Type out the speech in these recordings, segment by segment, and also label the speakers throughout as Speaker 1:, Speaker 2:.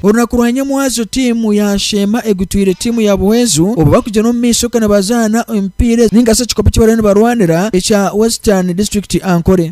Speaker 1: Orunaku rwa Nyamwazo tiimu ya Sheema egutwire tiimu ya Buhweezu obu bakugyenda omu maisho kandi bazaana emipiira ninga shi ekikopo eki bariyo nibarwanira ekya Western District Ankole.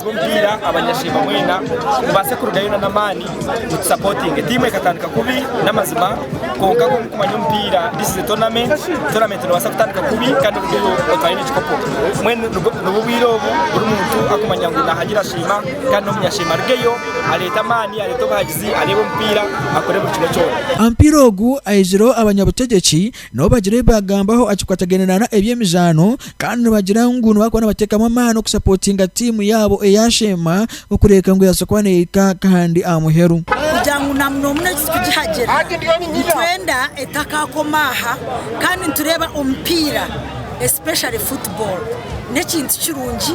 Speaker 2: Ogu omupiira abanyashemba mwena mubaase kurugayo na n'amaani mutusapotinge. Tiimu ekatandika kubi n'amazima kwonka nk'oku mukumanya omupiira this is a tournament, tournament noobaasa kutandika kubi kandi orugeyo otware n'ekikopo. Mbwenu nibwo nibwo obwire obu buri muntu akumanya ngu naahagira Sheema kandi n'omunyasheema arugeyo areete amaani areete obuhagizi areebe omupiira akore buri kimwe kyona. Aha mupiira ogu
Speaker 1: ayijireho abanyabutegeki Nabo bagira ebi baagambaho aha kikwatagaine na na eby'emizaano kandi nibagira ngu nibakuba nibateekamu amaani okusapotinga tiimu yaabo eyaasheema okureeka ngu yabaasa kuba neehika nk'ahandi aha muheru. Kugira ngu na muno
Speaker 3: muno egi tugihagyire, nitwenda etakaakoma aha kandi nitureeba omupiira especially football n'ekintu kirungi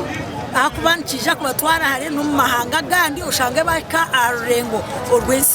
Speaker 3: ahakuba nikiija kubatwara hare n'omu mahanga agandi oshange bahika aha rurengo orw'ensi.